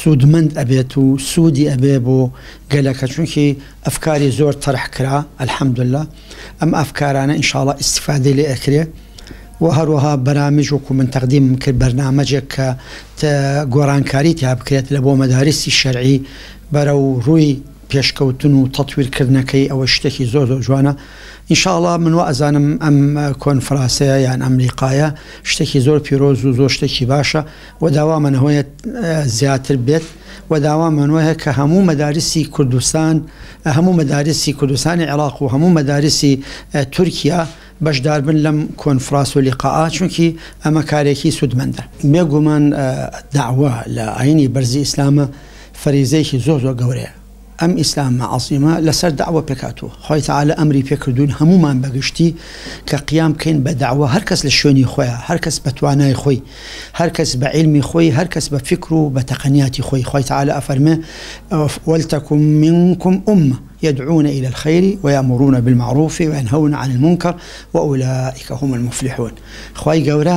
سودمەند ئەبێت و سودی ئەبێ بۆ گەلەکە چونکی ئەفکاری زۆر تەرح کرا الحمداللە ئەم ئەفکارانە انشااللە ئیستیفادەی لێ ئەکرێ وە هەروەها بەرامج وەکو من تەقدیمم کرد بەرنامەجێک کە گۆرانکاری تیا بکرێت لە بۆ مەداریسی شەرعی بەرەو ڕووی پێشکەوتن و تەتویر کردنەکەی ئەوە شتێکی زۆر زۆر جوانە انشااللە من وا ئەزانم ئەم کۆنفراسەیە یان ئەم لیقایە شتێکی زۆر پیرۆز و زۆر شتێکی باشە و داوامان هەیە زیاتر بێت و داوامان وایە کە هەموو مەدارسی کوردستان هەموو مەدارسی کوردستانی عێراق و هەموو مەدارسی تورکیا بەشداربن لەم کۆنفراس و لیقاعە چونکی ئەمە کارێکی سوودمەندە. بێگومان داوا لە ئاینی بەرزی ئیسلامە فەریزەیەکی زۆر زۆر گەورەیە. ئەم ئیسلامە عەزیمە لەسەر دەعوە پێکهاتووە، خوای تەعالا ئەمری پێکردووین هەموومان بەگشتی کە قیام بکەین بە دەعوە هەرکەس لە شوێنی خۆیا هەرکەس بە توانای خۆی هەرکەس بە عیلمی خۆی هەرکەس بە فیکر و بە تەقەنیاتی خۆی خوای تەعالا ئەفەرمێ ولتکم منکم امە یدعون الی الخیر ویامرون بالمعروف وینهون عن المنکر واولئک هم المفلحون خوای گەورە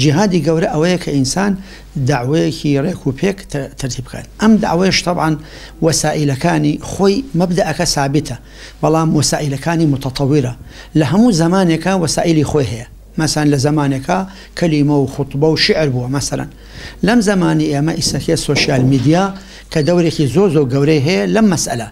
جیهادی گەورە ئەوەیە کە ئینسان دەعوەیەکی ڕێک و پێک تەرتیب بکات، ئەم دەعوەیەش تەبعەن وەسائیلەکانی خۆی مەبدەئەکە سابیتە، بەڵام وەسائیلەکانی موتەتەویرە، لە هەموو زەمانێکا وەسائیلی خۆی هەیە، مەسەن لە زەمانێکا کەلیمە و خوتبە و شیعر بووە، مەسەن لەم زەمانی ئێمە ئیسەکێ سۆشیال میدیا کە دەورێکی زۆر زۆر گەورەی هەیە لەم مەسئەلە.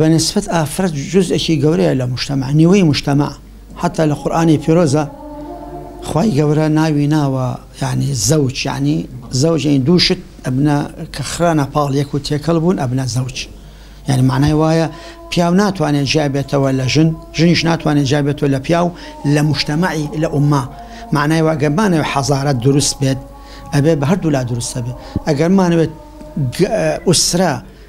بە نیسبەت ئافرەت جوزئێکی گەورەیە لە مشتەمە نیوەی مشتەمە حتا لە قورآانی پیرۆزە خی گەورە ناوی ناوە یعنی زەوج یعنی زەوجین دووشت ئەبنە کە خرانە پاڵ یەک و تێکەڵ بوون ئەبنە زەوج یعنی معنای وایە پیاو ناتوانێت جیابێتەوە لە ژن ژنیش ناتوانێت جیابێتەوە لە پیاو لە مشتەمەعی لە ئومما معنای واگەمانە حەزارەت دروست بێت ئەبێ بە هەردوو لا دروستە بێت ئەگەرمانەوێت ئوسرا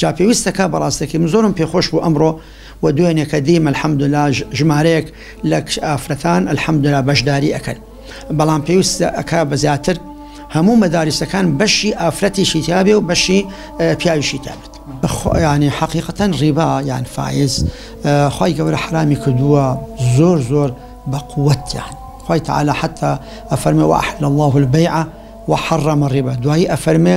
جا پێویستە کا بە ڕاستەکەی من زۆرم پێ خۆش بوو ئەمڕۆ و دوێنێکە دیم الحمدللە ژمارەیەک لە کچ ئافرەتان الحمدللە بەشداری ئەکەن بەڵام پێویستە ئەکا بە زیاتر هەموو مەدارسەکان بەشی ئافرەتیشی تابێ و بەشی پیاویشی تابێت ینی حقیقەتەن ڕیبا یان فیز خی گەورە حرامی کردووە زۆر زۆر بە قووەتیان خی تعاالە حتا ئەفەرمە وەحل الله البیع وحڕەمە ڕێبە دوایی ئەفەرمێ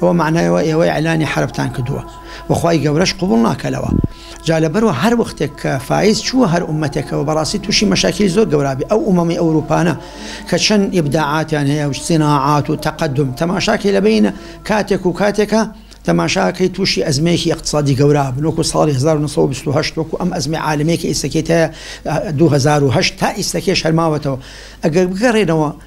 ئەوە مەعنای ئەوە ئێوە ئیعلانی حەربتان کردووە و خوای گەورەش قبوڵ ناکەلەوە جا لەبەروا هەر وەختێک کە فایز چووە هەر ئومەتێکەوە بەڕاستی تووشی مەشاکیلی زۆر گەورابی ئەو ئومەمی ئەوروپانە کە چەند ئیبداعاتیان هەیە و سیناعات و تەقەدوم تەماشاکەی لە بەینە کاتێک و کاتێکە تەماشاکەی تووشی ئەزمەیەکی ئیقتسادی گەورابن وەکو ساڵی 1920 وەکو ئەم ئەزمەی عالەمیە کە ئیستەکەی تایە 2008 تا ئیستەکەیش هەر ماوەتەوە ئەگەر بگەڕێنەوە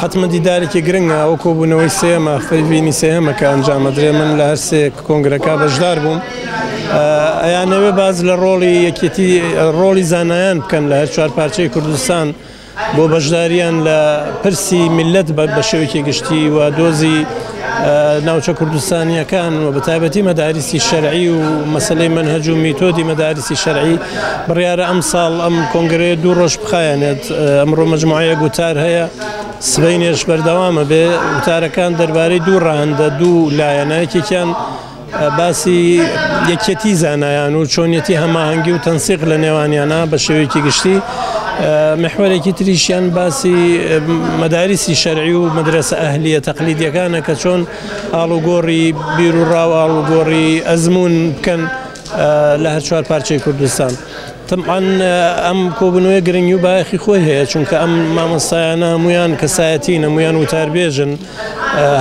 حەتمەن دیدارێکی گرنگە، ئەوە کۆبوونەوەی سێیەمە، فەیڤینی سێهەمە کە ئەنجام ئەدرێ، من لە هەر سێ کۆنگرەکە بەشدار بووم. ئەیانەوێ باس لە ڕۆڵی یەکێتی، ڕۆڵی زانایان بکەن لە هەر چوار پارچەی کوردستان بۆ بەشدارییان لە پرسی میللەت بە شێوەیەکی گشتی و دۆزی ناوچە کوردستانیەکان و بەتابەتی مەداریسی شەرعی و مەسلەی منهج و میتۆدی مەداریسی شەرعی بڕیارە ئەم ساڵ ئەم کۆنگرەیە دوو ڕۆژ بخایەنێت ئەمڕۆ مجموعەیە گوتار هەیە سبەینێش بەردەوامە بێ وتارەکان دەربارەی دوو ڕەهەندە دوو لایەنە یەکێکیان باسی یەکیەتی زانایان و چۆنیەتی هەماهەنگی و تەنسیق لە نێوانیانە بە شێوەیەکی گشتی محوەرێکی تریشیان باسی مەداریسی شەرعی و مدرسە ئەهلیە تەقلیدیەکانە کە چۆن ئاڵوگۆڕی بیر و ڕاو ئاڵوگۆڕی ئەزمون بکەن لە هەر چوار پارچەی کوردستان. تەمان ئەم کۆبنەوەی گرنگی و باەخی خۆی هەیە چونکە ئەم مامۆستایانە هەمویان کەسایەتی نەمویان وتاربێژن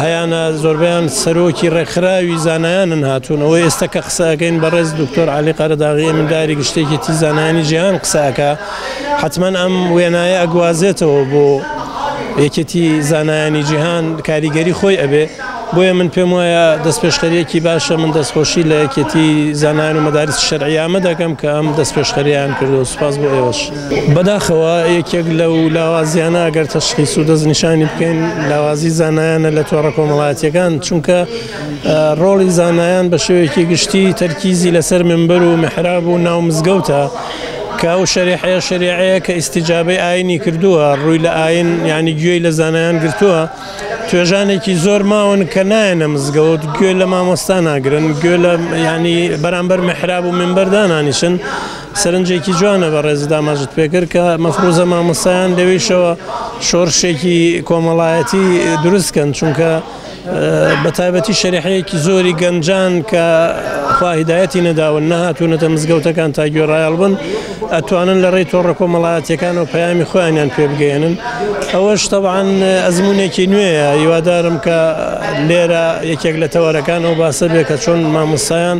هەیانە زۆربەیان سەرۆکی ڕێکخراوی زانایانن هاتوونەوە ئێستا کە قسەکەین بەڕێز دکتۆر علی قەرەداغی منداری گشتێکی تی زانانی جیهان قساکە حتمما ئەم وێنایە ئەگوازێتەوە بۆ یەکێتی زانایانی جیهان کاریگەری خۆی ئەبێ بۆیە من پێم وایە دەست پێشخەریەکی باشە من دەستخۆشی لە یەکێتی زانان و مەدارست شەرعیامە دەکەم کە ئەم دەست پێشخەریان کردو سوپاس بۆ ئێوەش. بەداخەوە یەکێک لەو لاوازیانە ئەگەر تەشخیس و دەستنیشانی بکەین لاوازی زانایانە لە تۆڕە کۆمەڵاتیەکان چونکە ڕۆڵی زانایان بە شێوەیەکی گشتی تەرکیزی لەسەر منبەر و محراب و ناو مزگەوتە کە ئەو شەریحەیە شەریعەیە کە ئیسیجابەی ئاینی کردووە ڕووی لە ئاین ینی گوێی لە زانایان گرتووە توێژانێکی زۆر ماون کە نایەنە مزگەوت گوێ لە مامۆستا ناگرن گوێ لە ینی بەرامبەر محراب و منبەردانانیشن سەرنجێکی جوانە بەڕێزت ئاماژەت پێکرد کە مەفروزە مامۆستایان لەویشەوە شۆرشێکی کۆمەڵایەتی دروست کەن چونکە بە تایبەتی شەریحەیەکی زۆری گەنجان کە خواهیدایەتی نەداون نەهاتوونەتە مزگەوتەکان تا گوێڕایەڵ بن ئەتوانن لە ڕێی تۆڕە کۆمەڵایەتەکان و پەیامی خۆیانیان پێ بگەێنن ئەوەش تەوان ئەزمونێکی نوێیە هیوادارم کە لێرە یەکێک لە تەوارەکان ئەو باسە بێ کە چۆن مامۆستایان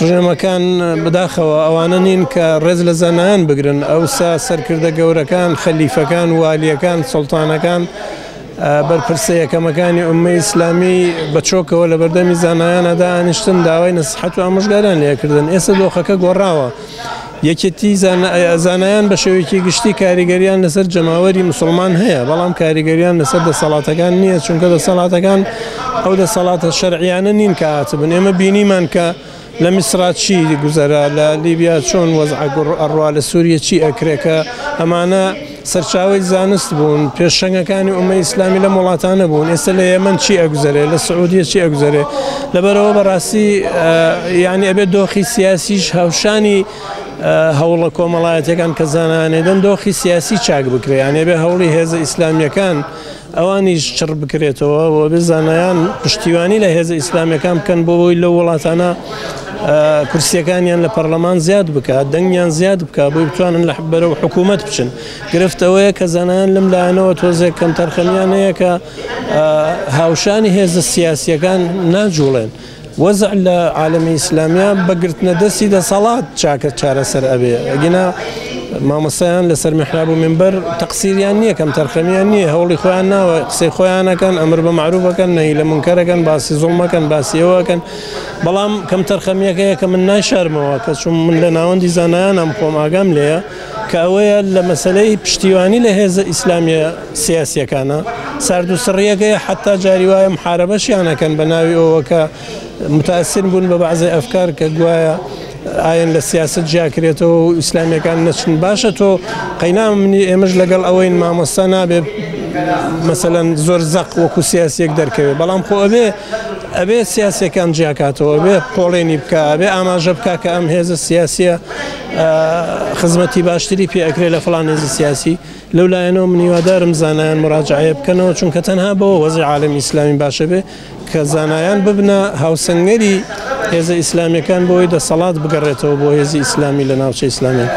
ڕژێمەکان بەداخەوە ئەوانە نین کە ڕێز لە زانایان بگرن، ئەوسا سەرکردە گەورەکان، خەلیفەکان، والییەکان، سوڵتانەکان، بەرپرسە یەکەمەکانی ئوممەی ئیسلامی بە چۆکەوە لە بەردەمی زانایانا دائەنیشتن، داوای نەسیحەت و ئامۆژگاریان لێ ئەکردن، ئێستا دۆخەکە گۆڕاوە. یەکێتی زانایان بە شێوەیەکی گشتی کاریگەریان لەسەر جەماوەری مسلمان هەیە بەڵام کاریگەریان لەسەر دەسەڵاتەکان نییە چونکە دەسەڵاتەکان ئەو دەسەڵاتە شەرعیانە نین کە هاتبن ئێمە بینیمان کە لە میسرا چی گوزەرا لە لیبیا چۆن وەزعگوڕ ئەڕوا لە سووریە چی ئەکرێکە ئەمانە سەرچاوەی زانست بوون، پێشەنگەکانی ئومەی ئیسلامی لەم وڵاتانە بوون، ئێستا لە یەمەن چی ئەگوزەرێ، لە سعودیە چی ئەگوزەرێ، لەبەرئەوە بەڕاستی یانی ئەبێ دۆخی سیاسیش هاوشانی هەوڵە کۆمەڵایەتیەکان کە زانایان ئەیدەن دۆخی سیاسی چاک بکرێ، یانی ئەبێ هەوڵی هێزە ئیسلامیەکان ئەوانیش چڕ بکرێتەوە و بێ زانایان پشتیوانی لە هێزە ئیسلامیەکان بکەن بۆ بۆی لە وڵاتانە کورسیەکانیان لە پەرلەمان زیاد بکات دەنگیان زیاد بکە بۆی بتوانن لە بەرە و حکوومەت بچن گرفتەوەیە کە زانایان لەم لایەنەوە تۆزێک کەم تەرخەمیانەیە کە هاوشانی هێزە سیاسیەکان ناجوڵێن. وەزع لە عالەمی ئیسلامیا بە گرتنە دەستی دەسەڵات چاکە چارەسەر ئەبێ ئەگینا مامۆستایان لەسەر محراب و منبەر تەقسیریان نییە کەم تەرخەمیان نییە هەوڵی خۆیان ناوە قسەی خۆیانەکەن ئەمر بە معروفەکەن نەهی لە منکەرەکەن باسی زوڵمەکەن باسیەوەکەن بەڵام کەم تەرخەمیەکەیە کە من ناشارمەوە کە چون من لە ناوەندی زانایانم خۆم ئاگام لێیە کە ئەوەیە لە مەسەلەی پشتیوانی لە هێزە ئیسلامیە سیاسیەکانە سارد و سڕیەکەی حتا جاری وایە محارەبەشیانەکەن بە ناوی ئەوەکە متاسین بوون بە بەعزی ئەفکار کە گوایە ئاەن لە سیاست جیاکرێتەوە و ئیسلامیەکان نەچن باشە تۆ قەینا منی ئێمەش لەگەڵ ئەوەی مامۆستا نابێ مەسەەن زۆر زەق وەکو سیاسێک دەرکەوێت بەڵام خۆ ئەبێ ئەبێ سیاسەکان جیاکاتەوە بێ پۆڵێنی بکە بێ ئاماژە بکە کە ئەم هێزە سیاسە خزمەتی باشتری پێ ئەکرێت لە فڵان نێزی سیاسی لەو لایەنەوە منیوادارم زانایان مراجعەیە بکەنەوە چونکە تەنها بەوە وەزی عالم ئیسلامی باشە بێ کە زانایان ببنە هاوسنگەری هێزە ئیسلامیەکان بۆی دەسەڵات بگەڕێتەوە بۆ هێزی ئیسلامی لە ناوچە ئیسلامی.